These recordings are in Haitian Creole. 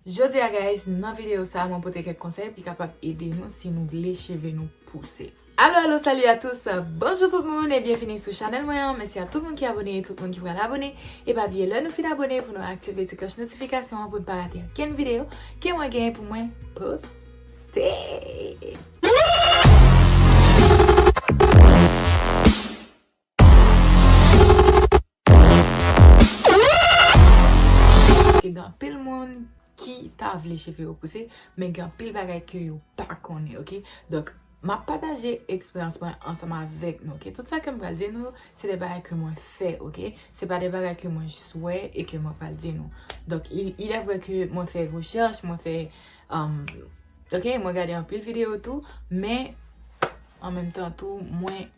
Jodia guys nan video sa mwen pote kèk konsèy ki kapab ede nou si nou vle cheve nou pouse. Alo alo salut a tous Bonjou tout moun e byenvini sou chanèl mwen an Mèsi a tout moun ki abone e tout moun ki pral abone E pa bliye lè nou fin abone pou nou aktive ti klòch notifikasyon an pou nou pa rate ankenn video ke mwen genyen pou mwen poste. Gen anpil moun ki ta vle cheve yo pouse, men gen anpil bagay ke yo pa konnen, ok? Donk, m ap pataje eksperyans mwen ansanm avèk nou, ok? Tout sa ke m pral di nou, se de bagay ke mwen fè, ok? Se pa de bagay ke mwen jis wè e ke mwen pral di nou. Donk, ilè vre ke mwen fè rechèch, mwen fè, am, ok? Mwen gade anpil videyo tou, men, an menm tan tou, mwen...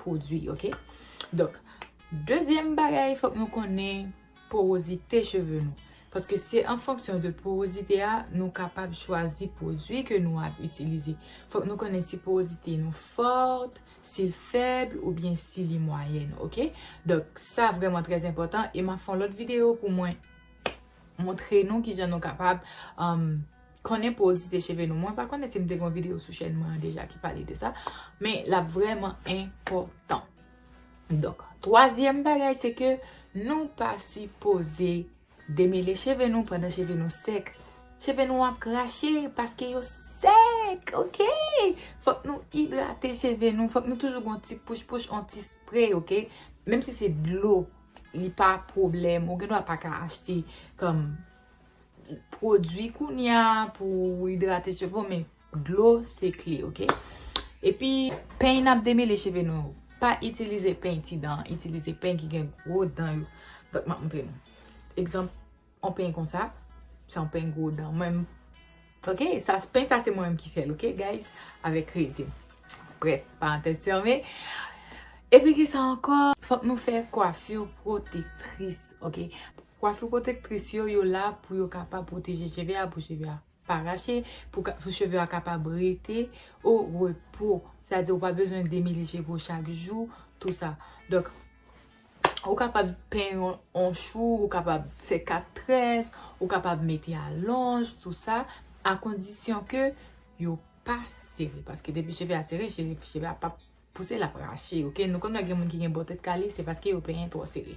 pwodwi ok donk dezyèm bagay fòk nou konnen powozite cheve nou paske se an fonksyon de powozite a nou kapab chwazi pwodwi ke nou ap itilize fòk nou konnen si powozite nou fòt si l fèb ou byen si li mwayèn ok donk sa vreman trèz enpòtan e m ap fè yon lòt videyo pou mwen montre nou kijan nou kapab Konnen porozite cheve nou. Mwen pa konnen si m te gen yon videyo sou chèn mwen an deja ki pale de sa. Men l ap vrèman enpòtan. Donk, twazyèm bagay se ke nou pa sipoze demele cheve nou pandan cheve nou sèk. Cheve nou ap krache paske yo sèk, ok? Fòk nou idrate cheve nou. Fòk nou toujou gen yon ti pouch pouch, yon ti spray, ok? Menm si se dlo, li pa pwoblèm. Ou gen dwa pa ka achte kòm pwodwi kounya pou idrate cheve w men dlo se kle ok. Epi peny nap demele cheve nou yo pa itilize peny ti dan itilize peny ki gen gwo dan yo dòk map montre nou. Egzanp yon peny konsa se yon peny gwo dan mwen menm ok sa peny sa se mwen menm ki fèl ok guys avèk rezin brèf parantèz fèmen. Epi kisa ankò fòk nou fè kwafi pwotektris ok Kwafi pwotektris yo, yo la pou yo kapab pwoteje cheve a, pou cheve a pa rache, pou cheve a kapab rete o repo. Sa vle di ou pa bezwen demele cheve ou chak jou, tou sa. Donk, ou kapab peny yo an chou, ou kapab fè 4 très, ou kapab mete alonj, tou sa, a kondisyon ke yo pa sere. Paske depi cheve a sere, cheve a pap. Pouse lap rache ok. Nou konn lè gen moun ki gen bon tèt kale se paske yo penyen twò sere.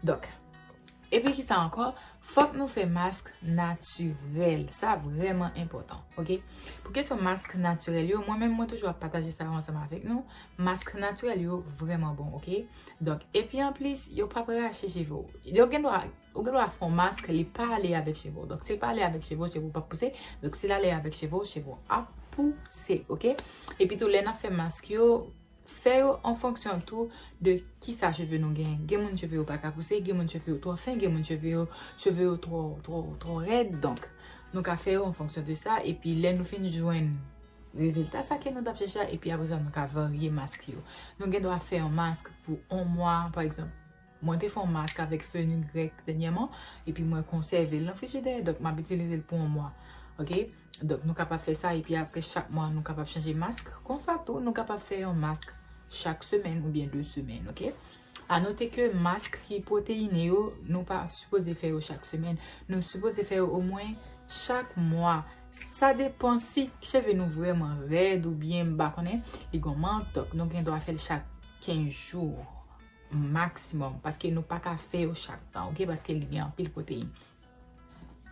Dòk. Epi kisa ankò? Fòk nou fè mask natirèl. Sa vrèman enpòtan. Ok. Pou kesyon mask natirèl yo. Mwen menm mwen toujou ap pataje sa yo ansanm avèk nou. Mask natirèl yo vrèman bon ok. Dòk. Epi anplis yo pap rache cheve ou. Yo gen dwa. Ou gen dwa fon mask li pa ale avèk cheve w. Donk si l pa ale avèk cheve w, cheve w pap pouse. Donk si l ale avèk cheve w, cheve w ap pouse. Ok? Epi tou lè nan fè mask yo, fè yo an fonksyon tou de ki sa cheve nou gen. Gen moun cheve yo pa ka pouse, gen moun cheve yo twò fen, gen moun cheve yo, cheve yo twò, twò, twò rèd. Donk nou ka fè yo an fonksyon de sa. Epi lè nou fin jwenn rezilta sa ke nou tap chèche a, epi apre sa nou ka varye mask yo. Nou gen dwa fè yon mask pou 1 mwa, pa egzanp. Mwen te fè yon mask avèk fenugrec dènyèman epi mwen konsève l nan frijidè donk map itilize l pou yon mwa ok donk nou kapab fè sa epi aprè chak mwa nou kapab chanje mask konsa tou nou kapab fè yon mask chak semèn oubyen 2 semèn ok a note ke mask ki pwoteine yo nou pa sipoze fè yo chak semèn nou sipoze fè yo omwen chak mwa sa depan si cheve nou vreman rèd oubyen m pa konnen li gon mank donk nou gen dwa fè l chak 15 jou. Maximum paske nou pa ka fè yo chak tan ok paske li gen anpil protein.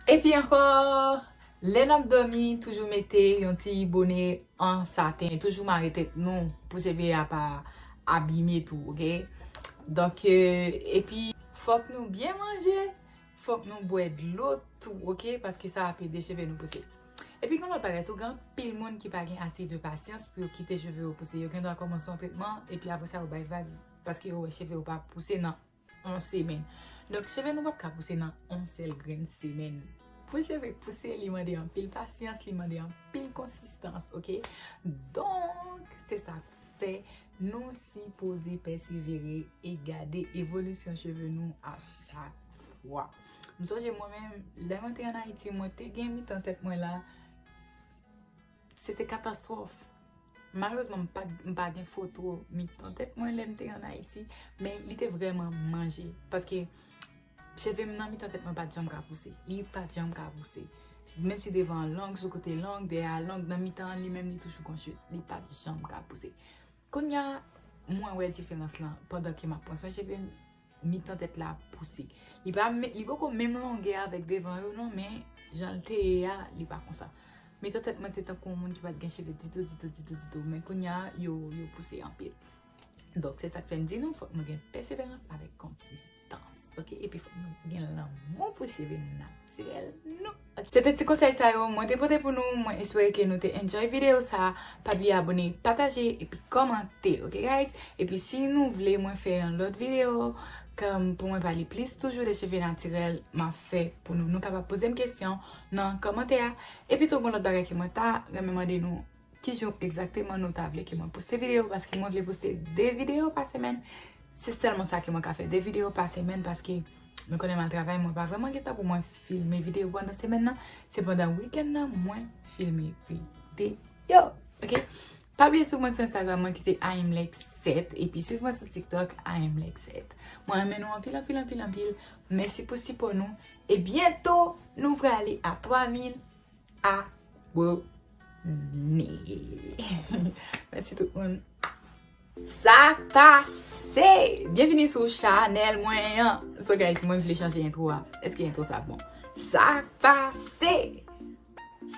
Epi ankò lè nap domi toujou mete yon ti bone an saten toujou mare tèt nou pou cheve a pa abime tou ok donk epi fòk nou byen manje Fòk nou bwè dlo tou ok paske sa ap ede cheve nou pouse. Epi gen lòt bagay tou gen anpil moun ki pa gen ase de pasyans pou yo kite cheve yo pouse yo gen dwa kòmanse yon tretman epi apre sa yo bay vag paske yo wè cheve yo pa ap pouse nan yon semèn. Donk cheve nou pap ka pouse nan yon sèl grenn semèn. Pou cheve pouse li mande anpil pasyans li mande anpil konsistans ok donk se sa. fè nou si poze pèsevere e gade evolisyon cheve nou a chak fwa. M sonje mwen menm, lè mwen te an Ayiti, mwen te gen mitan tèt mwen la, se te katastrof. Malerezman m pa gen foto mitan tèt mwen lè m te an Ayiti, men li te vreman manje. Paske Cheve m nan mitan tèt mwen pa t janm ka pouse. Li pa t janm ka pouse. Menm si devan an long, sou kote long, dèyè a long, nan mitan an li menm li toujou kon chute. Li pa t janm ka pouse. Kounya mwen wè diferans lan pandan ke m ap pran swen cheve m, mitan tèt la pouse. Li pa menm, li poko menm longè avèk devan yo non men jan l te ye a li pa konsa. Mitan tèt mwen te tankou yon moun ki pa t gen cheve ditou, ditou, ditou, ditou. Men kounya yo pouse anpil. Donk se sa k fè m di nou fòk nou gen pèseverans avèk konsistans. dans ok epi fòk nou gen lanmou pou cheve natirèl nou ok se te ti konsèy sa yo mwen te pote pou nou mwen espere ke nou te enjoy videyo sa pa bliye abone pataje epi kòmante ok guys epi si nou vle mwen fè yon lòt videyo kèm pou mwen pale plis toujou de cheve natirèl ma fè pou nou nou kapab pozem kesyon nan kòmante a epi tou gon lòt bagay ke mwen ta renmen mande nou. Ki jou egzakteman nou ta vle ke mwen poste video paske mwen vle poste 2 video pa semen. Se selman sa ke mwen ka fe 2 video pa semen paske nou konnen mwen al travay mwen pa vreman gen tan pou mwen filme video pandan semen nan. Se pandan weekend nan mwen filme video. Ok? Pa bliye sou mwen sou Instagram mwen ki se aimlexset epi sou mwen sou TikTok aimlexset. Mwen renmen nou anpil anpil anpil anpil. Mèsi pou sipò nou. E byento nou prale a 3000. Mèsi tout moun. Sa pase! Byenvini sou chanèl mwen an. So guys, mwen vle chanje entro a. Eske entro sa bon? Sa pase!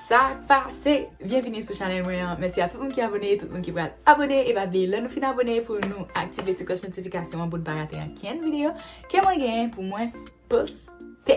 Sa pase! Byenvini sou chanèl mwen an. Mèsi a tout moun ki abone, tout moun ki pral abone. E pa bliye, lè nou fin abone pou nou aktive ti kloch notifikasyon an pou nou pa rate ankenn videyo ke mwen gen pou mwen poste.